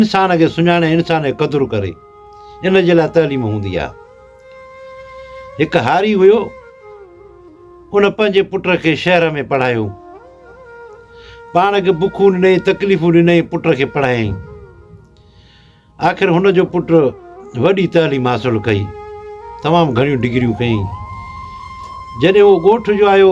انسان کي سڃاڻي ۽ انسان جي قدر ڪري ان جي لاء تعليم هوندي آهي. هڪ هاري هيو ان پنهنجي پٽ کي شهر ۾ پڙهايو. پاڻ کي بکون ڏنائين تڪليفون ڏنائين پٽ کي پڙهايائين. آخر هن جو پٽ وڏي تعليم حاصل ڪئي تمام گهڻيون ڊگريون ڪيائين. جڏهن هو ڳوٺ جو آيو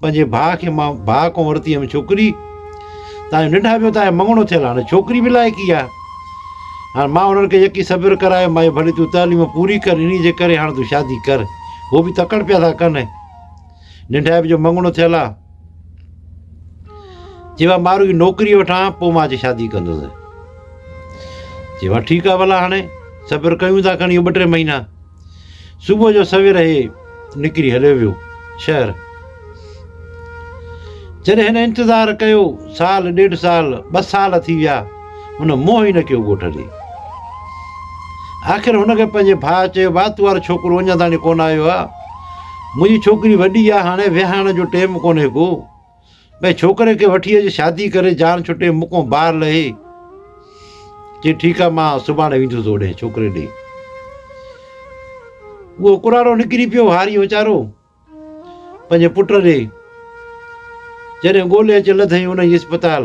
پنهنجي ڀاء کي مان ڀاء کان ورتي هيم ڇوڪري تنهنجو ننڊا پيو تنهنجو مڱڻو ٿيل هاڻي ڇوڪري به لائق ئي آهي هاڻي مان انهن کي يقين صبر ڪرايو مايو ڀلي تون تعليم پوري ڪر انهي جي ڪري هاڻي تون شادي ڪر هو به تڪڙ پيا ٿا ڪن ننڊائپ جو مڱڻو ٿيل آهي چي وا مارو جي نوڪري وٺان پوء مان اچي شادي ڪندس چي وا ٺيڪ آهي ڀلا هاڻي صبر ڪيون ٿا کڻي ٻه ٽي مهينا صبح جو سوير هي نڪري هليو ويو شهر. جڏهن هن انتظار ڪيو سال ڏيڍ سال ٻه سال ٿي ويا هن منهن ئي نه ڪيو ڳوٺ ڏي. آخر هن کي پنهنجي ڀاء چيو ڀاء تون وار ڇوڪرو اڃا تائين ڪونه آيو آ منهنجي ڇوڪري وڏي آ هاڻي ويهاڻ جو ٽيم ڪونهي ڪو. ڀاء ڇوڪري کي وٺي اچ شادي ڪري جان ڇٽي مکون بار لهي چي ٺيڪ آ مان سڀاڻي ويندس اوڏي ڇوڪري ڏي اهو ڪراڙو نڪري پيو هاري ويچارو پنهنجي پٽ ڏي جڏهن ڳولي اچ لڌئي ان جي اسپتال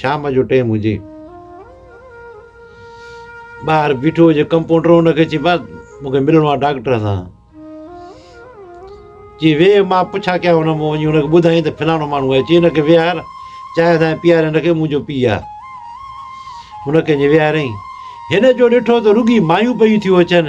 شام جو ٽيم هجي ٻاهر بيٺو هجي ڪمپوڊر هن کي چي بس مون کي ملڻو آهي ڊاڪٽر سان چي ويهه مان پڇا ڪيا هن مون وڃي هنکي ٻڌائين ته فلاڻو ماڻهو آهي چي هنکي ويهار چانهه سان پيئاري هنکي منهنجو پي آ هن کي جي ويهارين هن جو ڏٺو ته رڳي مايون پيون ٿيون اچن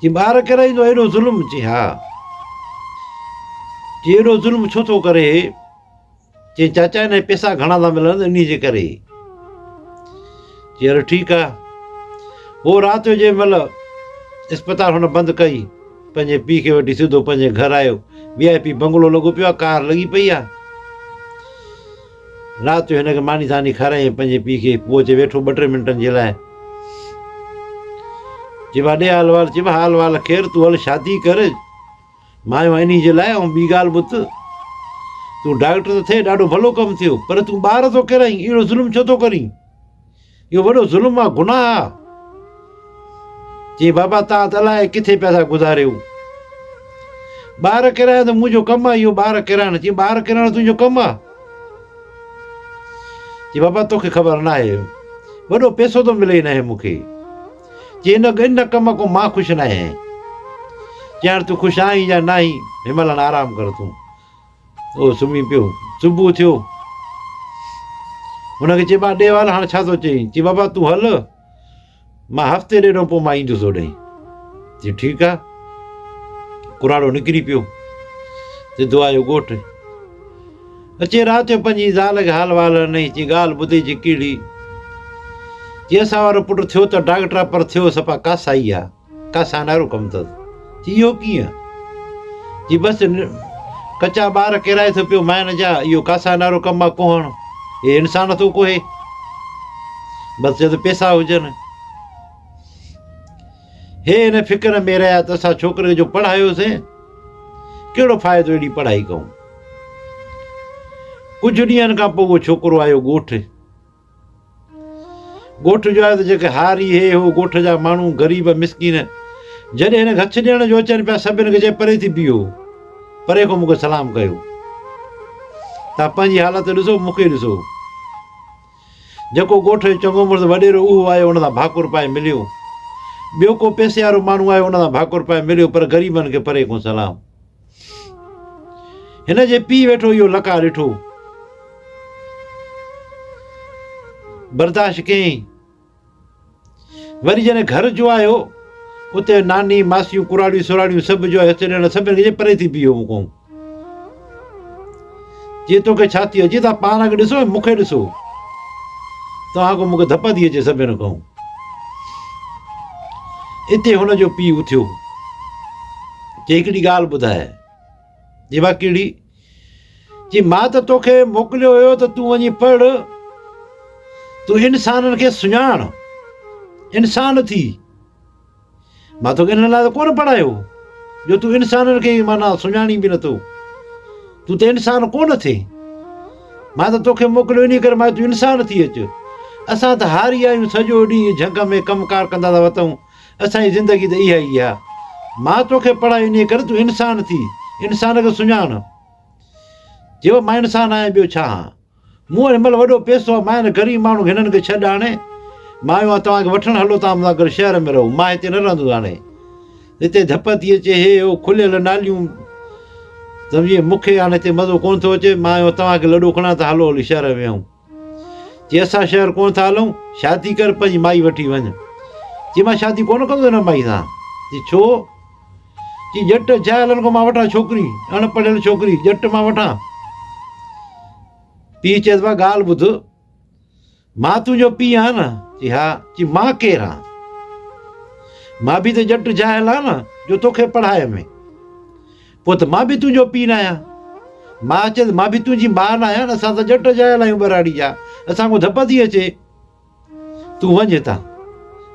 جي ٻار ڪري ٿو ايڏو ظلم چي ها چي ايڏو ظلم ڇو ٿو ڪري چي چاچا ان جي پيسا گهڻا ٿا ملن ان جي ڪري چي هل ٺيڪ آ هو رات جو جنهن مهل اسپتال هن بند ڪئي پنهنجي پي کي وٺي سڌو پنهنجي گهر آيو وي آء پي بنگلو لڳو پيو آ ڪار لڳي پئي آ رات جو هن کي ماني ڌاني کارائي ۽ پنهنجي پيء کي پوء اچي ويٺو ٻه ٽي منٽن جي لاء. چيو آ ڏي آ الوار چيو آ الوار کير تون هل شادي ڪر مان آيو آهيان انهي جي لاء ۽ ٻي ڳالهه ٻڌ تون ڊاڪٽر ته ٿئي ڏاڍو ڀلو ڪم ٿيو پر تون ٻار ٿو ڪيرائين اهڙو ظلم ڇو ٿو ڪرين. اهو وڏو ظلم آ، گناهه آ. چيائين بابا توهان ته الائي ڪٿي پيا ٿا گذاريو. ٻار ڪيرائڻ ته منهنجو ڪم آ اهو ٻار ڪيرائڻ. چيائين ٻار ڪيرائڻ تنهنجو ڪم آ؟ چيائين بابا توکي خبر ناهي. وڏو پيسو ٿو ملي هنئين مون کي. چيائين ان ان ڪم کان مان خوش ناهيان. چيائين هاڻي تون خوش آهين يا ناهين هن مهل هاڻي آرام ڪر تون. هو سمهي پيو. صبح ٿيو. هن کي چيبا ڏيوال هاڻ ڇا ٿو چئين؟ چي بابا تون هل مان هفتي ڏيڍ پوء مان ايندس هوڏانهن. چي ٺيڪ آ. ڪراڙو نڪري پيو. سڌو آيو ڳوٺ. اچي رات جو پنهنجي زال کي حال وال هنئي چي ڳالهه ٻڌي چي ڪهڙي؟ چي اسان وارو پٽ ٿيو ته ڊاڪٽر آ پر ٿيو سفا ڪاسائي آ. ڪا سانارو ڪم اٿس؟ چي اهو ڪيئن؟ چي بس ڪچا ٻار ڪيرائي ٿو پيو مائن جا، اهو ڪا سانارو ڪم آ ڪوهڻ؟ هي انسان ٿو ڪوهي؟ بس جد پيسا هجن. هي ان فڪر ۾ رهيا ته اسان ڇوڪري جو پڙهايوسين، ڪهڙو فائدو اهڙي پڙهائي ڪئون؟ ڪجهه ڏينهن کان پوء اهو ڇوڪرو آيو ڳوٺ. ڳوٺ جو آهي ته جيڪي هار ئي هي، هو ڳوٺ جا ماڻهو، غريب مسڪين، جڏهن هن کي هٿ ڏيڻ جو اچن پيا، سڀ هن کي چئي پري ٿي بيهو، پري کان مون کي سلام ڪيو. توهان پنهنجي حالت ڏسو، مون کي ڏسو. جيڪو ڳوٺ جو چڱو مڙس وڏيرو اهو آيو، ان سان ڀاڪر پائي مليو. ٻيو ڪو پئسي وارو ماڻهو آيو، ان سان ڀاڪر پائي مليو، پر غريبن کي پري کان سلام. هن جي پيء ويٺو اهو لقاء ڏٺو برداشت ڪيائين وري جڏهن گهر جو آيو اتي ناني ماسيون ڪراڙيون سراڙيون سڀ جو آيو اتي ڏيڻ سڀ ڏيڻ پري ٿي بيهو مون کان جي تو کي ڇا ٿي ويو جي تان پاڻ اڳ ڏسو ۽ مون کي ڏسو تان اڳ مون کي ڌپ ٿي اچي سڀين کان اتي هن جو پيء اٿيو جي هڪڙي ڳالهه ٻڌايا جي با ڪهڙي جي مان ته توکي موڪليو هيو ته تون وڃي پڙھ تون انسانن کي سڃاڻ انسان ٿي مان توکي ان لاء ته ڪونه پڙهايو جو تون انسانن کي معنيٰ سڃاڻين به نٿو تون ته انسان ڪونه ٿئي مان ته توکي موڪليو ان ڪري مان تون انسان ٿي اچ اسان ته هاري آهيون سڄو ڏينهن جهنگ ۾ ڪم ڪار ڪندا ٿا وتون اسانجي زندگي ته اها ئي آهي مان توکي پڙهايو ان ڪري تون انسان ٿي انسان کي سڃاڻ جيو مان انسان آهيان ٻيو ڇا آهيان مون وٽ هن مهل وڏو پيسو آهي، ماهر غريب ماڻهو هنن کي ڇڏ هاڻي، مان آيو آهيان توهان کي وٺڻ هلو توهان مون سان گڏ شهر ۾ رهو، مان هتي نه رهندس هاڻي هتي ڌپ ٿي اچي هي هو کليل ناليون سمجهي مون کي هاڻي هتي مزو ڪونه ٿو اچي، مان آيو آهيان توهان کي لڏو کڻان ته هلو هلي شهر ۾ ويهون. چي اسان شهر ڪونه ٿا هلون، شادي ڪر پنهنجي مائي وٺي وڃ. چي مان شادي ڪونه ڪندس هن مائي سان. چي ڇو؟ چي ڄٽ جاء لن ڪو مان وٺان ڇوڪري اڻ پڙهيل ڇوڪري ڄٽ مان وٺان پيء چيس وا ڳالهه ٻڌ مان تنهنجو پيء آهيان نه چي ها چي مان ڪير آهيان مان به ته ڄٽ جاهل آهيان نه جو توکي پڙهائي ۾ پوء ته مان به تنهنجو پيء نه آهيان مان چيس مان به تنهنجي ماء نه آهيان اسان ته ڄٽ جاهل آهيون ٻهراڙي جا اسان کو ڌپ ٿي اچي تون وڃ هتان.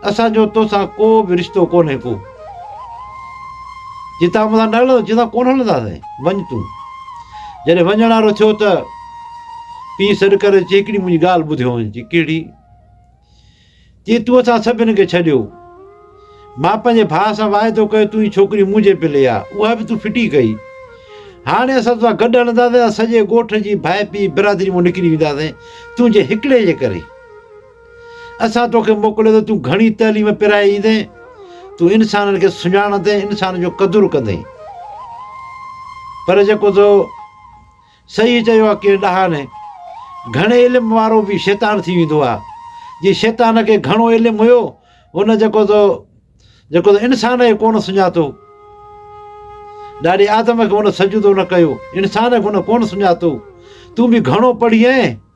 اسان جو تو سان ڪو به رشتو ڪونهي ڪو. جي تان مون سان نه هلندو جي سان ڪونه هلنداسين. وڃ تون. جڏهن وڃڻ وارو ٿيو ته پيء سڏ ڪري چي هڪڙي منهنجي ڳالهه ٻڌيو وڃ. چي ڪهڙي؟ چي تون اسان سڀني کي ڇڏيو. مان پنهنجي ڀاء سان واعدو ڪيو تون هي ڇوڪري منهنجي پلي آ اها به تون ڦٽي ڪئي هاڻي اسان توسان گڏ هلنداسين ۽ سڄي ڳوٺ جي ڀائپي برادري مان نڪري وينداسين تنهنجي هڪڙي جي ڪري اسان توکي موڪليو اٿو تون گهڻي تعليم پرائي ايندين تون انسانن کي سڃاڻندين انسان جو قدر ڪندين پر جيڪو تو صحيح چيو آ ڪي ڏاها ني گهڻي علم وارو به شيطان ٿي ويندو آ جي شيطان کي گهڻو علم هيو ان جيڪو تو جيڪو تو انسان کي ڪون سڃاتو ڏاڏي آدم کي ان سجدو نه ڪيو انسان کي ان ڪون سڃاتو تون به گهڻو پڙهي ائين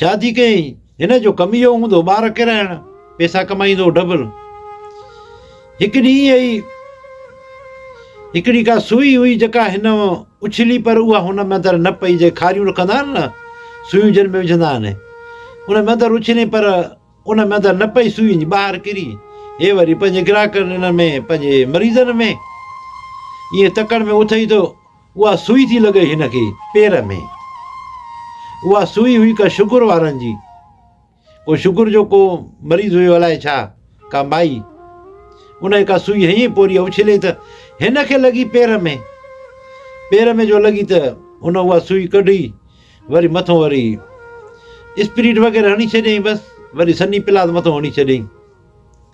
شادي ڪيائين، هن جو ڪم اهو هوندو ٻار ڪيرائڻ، پيسا ڪمائيندو هو ڊبل. هڪ ڏينهن ائين ئي هڪڙي ڪا سوئي هئي جيڪا هن اڇلي پر اها هن ۾ اندر نه پئي جي کاريون رکندا آهن نه سوئيون جن ۾ وجهندا آهن ان ۾ اندر اڇلي پر ان ۾ اندر نه پئي سوئي ٻاهر ڪري هي وري پنهنجي گراهڪن ان ۾ پنهنجي مريضن ۾ ائين تڪڙ ۾ اٿئي ٿو اها سوئي ٿي لڳئي هن کي پير ۾. اها سوئي هئي ڪا شگر وارن جي. ڪو شگر جو ڪو مريض هيو الائي ڇا، ڪا مائي. ان کي ڪا سوئي هنئين پوري اڇلي ته هن کي لڳي پير ۾. پير ۾ جو لڳي ته ان اها سوئي ڪڍي وري مٿو وري اسپريٽ وغيره هڻي ڇڏيائين بس وري سني پلاز مٿو هڻي ڇڏيائين.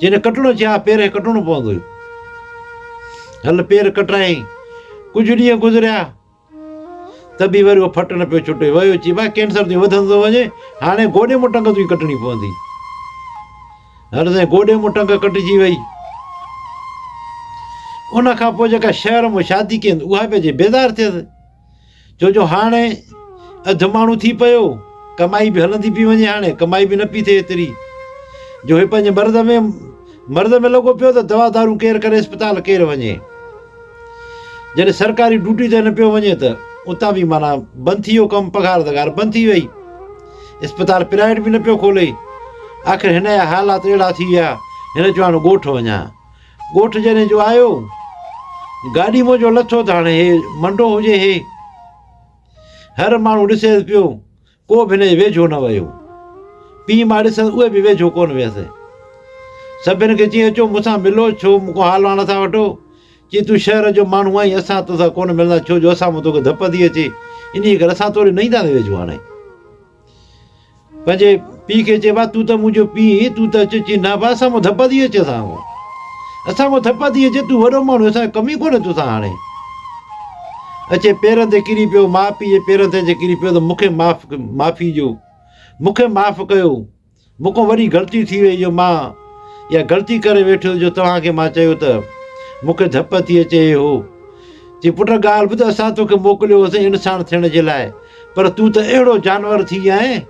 جنھن ڪٽڻو چاھي ھا پيرنھن ڪٽڻو پوندو ھيو. ھل پير ڪٽرايائين. ڪجھه ڏينھن گذريا ته به وري اھو ڦٽ نه پيو ڇٽي. ويو چي ڀاء ڪينسر تنھنجو وڌندو ٿو وڃي، ھاڻي گوڏي مون ٽنگ تنھنجي ڪٽڻي پوندي. ھل سائين گوڏي مون ٽنگ ڪٽجي وئي. ان کان پوء جيڪا شھر مون شادي ڪئي ھوندي اھا به اچي بيزار ٿيس. ڇو جو هاڻ اڌ ماڻهو ٿي پيو، ڪمائي به هلندي پئي وڃي، هاڻ ڪمائي به نه پئي ٿئي ايتري جو هي پنهنجي مرض ۾ مرض ۾ لڳو پيو ته دوا دارون ڪير ڪري اسپتال ڪير وڃي. جڏهن سرڪاري ڊيوٽي تي نه پيو وڃي ته اتان به مانا بند ٿي ويو ڪم پگهار دگار بند ٿي وئي. اسپتال پرائيويٽ به نه پيو کولي. آخر هن جا حالات اهڙا ٿي ويا هن چيو هاڻ ڳوٺ وڃان. ڳوٺ جني جو آيو گاڏي منهنجو لٿو ته هاڻي هي منڊو هجي هي هر ماڻهو ڏسيس پيو ڪو به هن جي ويجهو نه ويو پي ماء ڏسن اهي به ويجهو ڪون ويس سڀن کي چي اچو مون سان ملو ڇو مون کان حال واڻ ٿا وٺو چي تون شهر جو ماڻهو آهين اسان توسان ڪون ملندا ڇو جو اسان مان توکي ڌپ ٿي اچي انهيء ڪري اسان توڙي نه اينداسين ويجهو هاڻي پنهنجي پيء کي چئبو آهي، تون ته منهنجو پيء هين، تون ته اچ چين نه بابا اسان کان ڌپ ٿي اچي اسان کان. اسان کان ڌپ ٿي اچي، تون وڏو ماڻهو اسان کي ڪم ئي ڪونهي توسان هاڻي. اچي پيرن تي ڪري پيو، ماء پيء جي پيرن تي اچي ڪري پيو ته مون کي معاف معافي ڏيو، مون کي معاف ڪيو. مون کان وڏي غلطي ٿي وئي جو مان اها غلطي ڪري ويٺو جو توهان کي مان چيو ته مون کي ڌپ ٿي اچي هو چي پٽ ڳالهه ٻڌ اسان توکي موڪليو هوسين انسان ٿيڻ جي لاء پر تون ته اهڙو جانور ٿي ويا آهين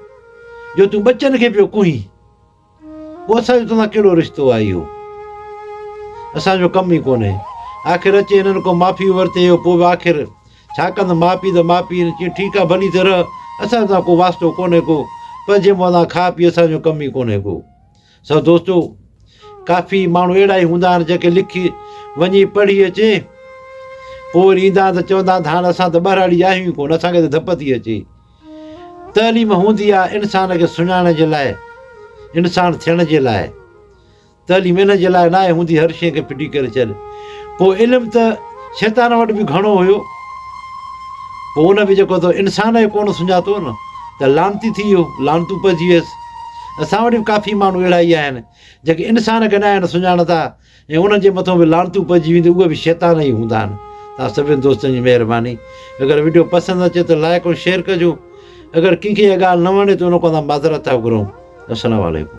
جو تون ٻچن کي پيو ڪوهين پوء اسان جو توسان ڪهڙو رشتو آهي اهو اسان جو ڪم ئي ڪونهي آخر اچي هنن ڪو معافي ورتي هو پوء به آخر ڇا ڪندا ماء پيء ته ماء پيء چين ٺيڪ آ ڀلي ٿي رهه اسان سان ڪو واسطو ڪونهي ڪو پر جي مون سان کاء پيء اسان جو ڪم ئي ڪونهي ڪو سو دوستو ڪافي ماڻهو اهڙا ئي هوندا آهن جيڪي لکي وڃي پڙهي اچي پوء وري ايندا آهن ته چوندا آهن ته هاڻ اسان ته ٻهراڙي آهيون ئي ڪونه اسان کي ته ڌپ ٿي اچي تعليم هوندي آهي انسان کي سڃاڻڻ جي لاء انسان ٿيڻ جي لاء تعليم ان جي لاء ناهي هوندي هر شيء کي ڦٽي ڪري ڇڏ. پوء علم ته شيطان وٽ به گهڻو هيو. پوء ان به جيڪو تو انسان کي ڪونه سڃاتو نه ته لعنتي ٿي ويو، لعنتون پئجي ويس. اسان وٽ به ڪافي ماڻهو اهڙا ئي آهن، جيڪي انسان کي ناهن سڃاڻندا ۽ انهن جي مٿان به لعنتون پئجي وينديون، اهي به شيطان ئي هوندا آهن. توهان سڀني دوستن جي مهرباني. اگر وڊيو پسند اچي ته لائيڪ ۽ شيئر ڪجو. اگر ڪنهن کي اها ڳالهه نه وڻي ته ان کان اسان معذرت ٿا گهرون. السلام عليڪم.